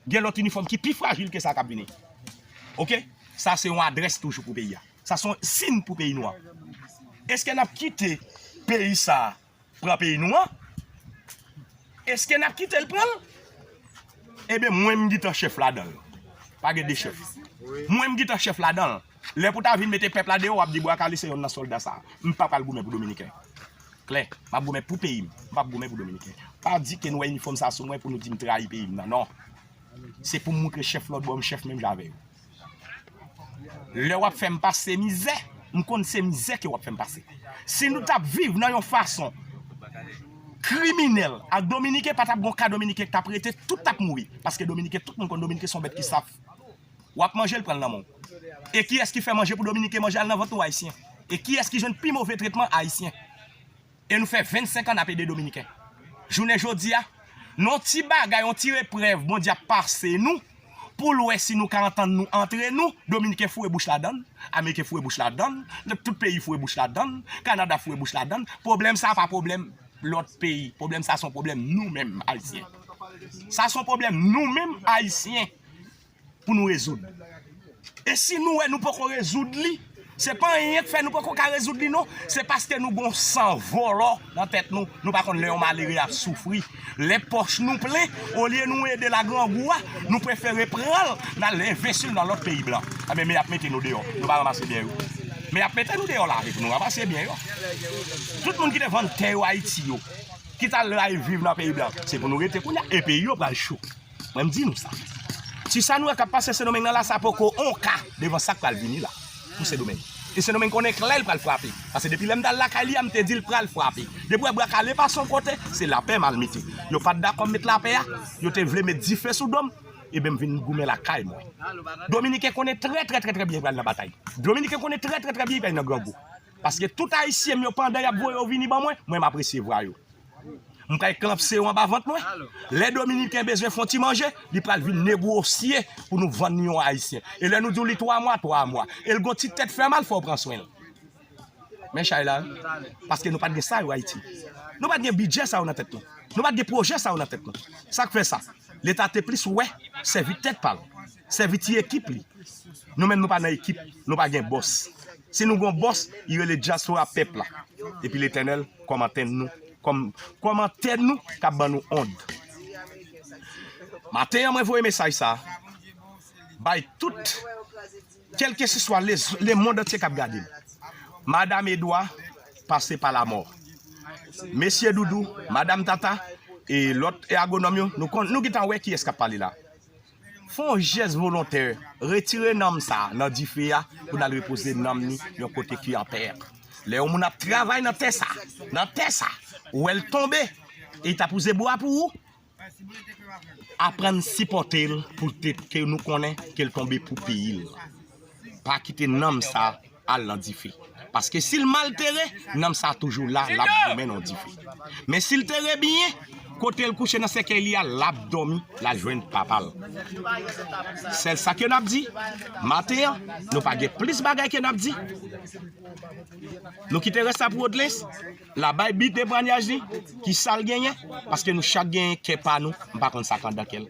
Gen lòt inifòm ki pi frajil ke sa kap vini. Ok. Sa se yon adrès toujou pou peyi a. Sa son sin pou peyi nou an. Eske nap kite peyi sa pran peyi nou an? Eske nap kite l pran l? Eben mwen m gitan chèf ladan l. Pa gen 2 chèf. Mwen m gitan chèf ladan l. Lè pou ta vin mete pèp la deyò wap di bwa kale se yonn nan sòlda sa a. M pa pral goumen pou dominiken. Klè. M ap goumen pou peyi m. M pap goumen pou dominiken. Pa di ke nou wè inifòm sa a sou mwen pou nou di m trayi peyi m nan. Non. Se pou m moutre chèf lòt bò m chèf menm jan avè yo. Lè wap fè m pase mizè, m konn se mizè ke wap fè m pase. Si nou tap viv nan yon fason kriminèl ak dominiken pa tap gon ka dominiken k tap rete tout tap mouri. Paske dominiken tout moun konn dominiken se yon bèt ki saf. wap manjel pranl nan menw e kiyès ki fè manje pou dominiken manje al nan vant nou ayisyen e kiyès ki jwenn pi move tretman ayisyen e nou fè 25 an nap ede dominiken jounen jodi a non ti bagay yon ti reprèv bondye ap pase nou poul wè si nou ka antann nou antre nou dominiken foure bouch ladann ameriken foure bouch ladann lòt tout peyi foure bouch ladann kanada foure bouch ladann pwoblèm sa pa pwoblèm lòt peyi pwoblèm sa son pwoblèm nou menm ayisyen sa son pwoblèm nou menm ayisyen. pou nou rezoud. E si nou wè nou poko rezoud li, se pa anyen k fè nou poko ka rezoud li non, se paske nou gon san vòlò nan tèt nou, nou pa konn lè yon malere ap soufri, lè pòch nou plen, olye nou ede l a grangou a, nou prefere pran l n al envesti l nan lòt peyi blan. Anben men y ap mete nou deyò, nou pa ranmase byen yo. Men y ap mete nou deyò lari pou nou ranmase byen yo. Tout moun ki te vann tè yo Ayiti yo, ki t al rayi viv nan peyi blan, se pou nou rete kounye a, e peyi yo pral cho. Mwen m di nou sa. Si sa nou wè k ap pase Sendomeng nan la, sa poko on ka devan sa k pral vini la pou Sendomeng. E Sendomeng konnen klè l pral frape. Pase depi lè m t al lakay li a, m te di l pral frape. Depi w wè bwa kale pase yon kote, se lapè m al mete. Yo pa t dakò m met lapè a, yo te vle met dife sou do m, eben m vin goumen lakay mwen. Dominiken konnen trè trè trè trè byen y pral nan batay. Dominiken konnen trè trè trè byen y pral nan grangou. Paske tout Ayisyen m yo pandan y ap voye yo vini ban mwen, mwen m ap resevwa yo. M ka eklampse yo anba vant mwen. Lè Dominiken bezwen fon ti manje, li pral vin negwosye pou nou vann ni yon Ayisyen. E lè nou di w li 3 mwa, 3 mwa. E l gon ti tèt fè mal, fò w pran swen l. Men chay la, paske nou pa t gen sa yo Ayiti. Nou pa t gen bidjè sa yo nan tèt nou. Nou pa t gen pwojè sa yo nan tèt nou. Sa k fè sa? Leta te plis wè sèvi tèt pa l. Sèvi ti ekip li. Nou menm nou pa nan ekip, nou pa gen bòs. Si nou gon bòs, li rele dyaspora pèp la. Epi Letènèl kòmantè nou, kòmantè nou kap ban nou ond. Maten an mwen voye mesaj sa a bay tout kèlkesiswa lemond antye kap gade m. Madam Edwa pase pa lamò. Mesye Doudou, Madam Tata e lòt agonòm yo, nou gintan wè kiyès kap pale la. Fè yon jès volontè, retire nanm sa a nan dife a pou n al repoze nanm ni yon kote ki anpè. Lè yon moun ap travay nan tè sa, nan tè sa, ou wè l tonbe e li ta pouze bwa pou ou, aprann sipòte l pou l te, ke nou konnen ke l tonbe pou peyi l. pa kite nanm sa al nan dife. Paske si l mal tere, nanm sa toujou la, l ap goumen nan dife. Men si l tere byen, kote l kouche nan sèkèy li a, l ap dòmi, l al jwenn papa l. Sèl sa ke n ap di, maten an, nou pa gen plis bagay ke n ap di. Nou kite rès la pou Odelens, l a bay bi temwanyaj li, ki sa l genyen, paske nou chak genyen kè pa nou, m pa konn sa k anndan kè l.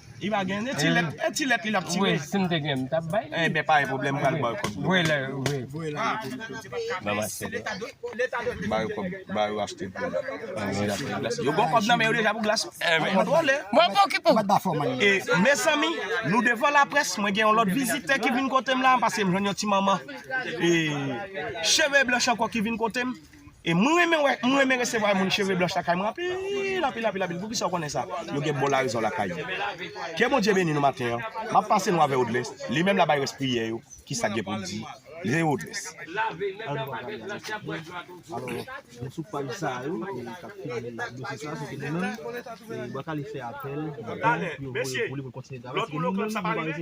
Li pa gen e ti lèt, e ti lèt li lap tire. Wi, si m te gen m tap bay li. Enben pa gen pwoblèm m pral ba ou kòb dlo. Voye lè, voye. Voye lè. Nan mache lè. Ba yo kòb, ba yo achte dlo. Yo gen kòb nan men yo deja pou glas. Enben. Kontwole. Mwen pa okipe w. E mezanmi, nou devan laprès, mwen gen yon lòt vizitè ki vin kote m la paske m jwenn yon ti manman e cheve blanch ankò ki vin kote m. E mwen renmen wè, mwen renmen resevwa moun cheve blanch lakay mwen anpil, anpil, anpil, anpil. Poukisa ou konnen sa? Yo gen bon larezon lakay yo. Ke Bondye beni nou maten an. M ap pase nou avè Odlès, li menm l ap bay rès priyè yo, ki sa k gen pou l di. Leve Odlès. Talè, mesye, lòt moun yo konn sa pa rive?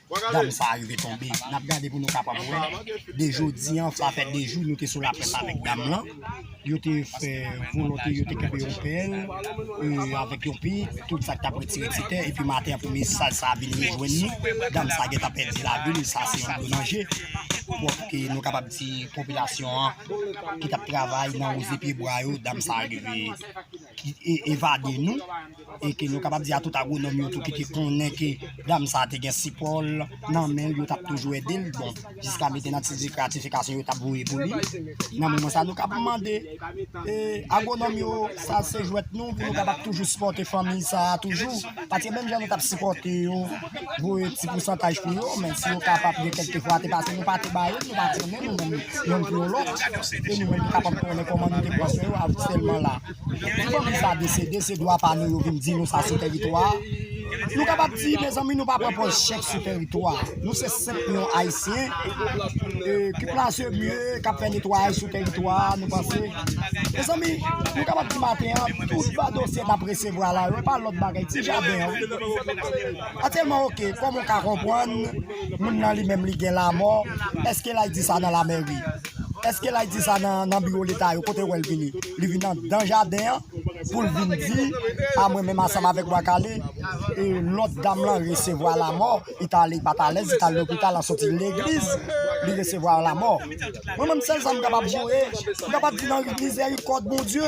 dam sa a rive tonbe. N ap gade pou nou kapab wè. De jodi an, sa fè de jou nou te sou laprès avèk dam lan. Yo te fè volonte, yo te kenbe yon pèl avèk yon pik, tout sa k t ap retire ti tè. Epi maten an, premye saj sa a vin rejwenn li. Dam sa a gentan pèdi lavi l. Sa se yon gwo danje. Donk, nou kapab di popilasyon an ki t ap travay nan wouze pyebwa yo, dam sa a rive evade nou. e ke nou kapab di a tout agwonòm yo tou ki te konnen ke dam sa te gen sipò l nan men l, yo t ap toujou ede l, bon, jiska mete nan ti zifre a tifikasyon yo t ap voye pou li. Nan moman sa a, nou kapab mande agwonòm yo, sa se jwèt nou pou nou kapab toujou sipòte fanmi sa a toujou? Paske menm jan nou t ap sipòte yo, voye ti pousantaj pou yo, men si yo kapab gen kèlke fwa te pase nou pa te ba yo, nou pa trennen nou menm youn pou yon lòt, e nou menm nou kapab konnen kòman nou te pran swen yo avèk sèlman la. Pou fanmi sa desede se dwa pa nou yo vin di nou sa se tèritwa a. Nou kapab di mezanmi nou pa pran pòz chèf sou tèritwa a. Nou se senp yon Ayisyen ki plase byen, k ap fè netwayaj sou tèritwa a. Nou panse mezanmi nou kapab di maten an tout va dosye n ap resevwa la yo e pa lòt bagay ti jaden an wi. Atyèlman ok kòman w ka konprann moun nan li menm li gen lamò èske l al di sa nan lamèri? Eske lay di sa nan biro leta yo kote wèl vini li vini andan jaden an poul vin di a mwen menm asanm avèk bwa kale e lòt dam lan resevwa lamò li ta ale li pat alèz li tal lopital an soti legliz li resevwa lamò mwen menm sèl sam kapab joure m kapab di nan mizè yon kòd bondye.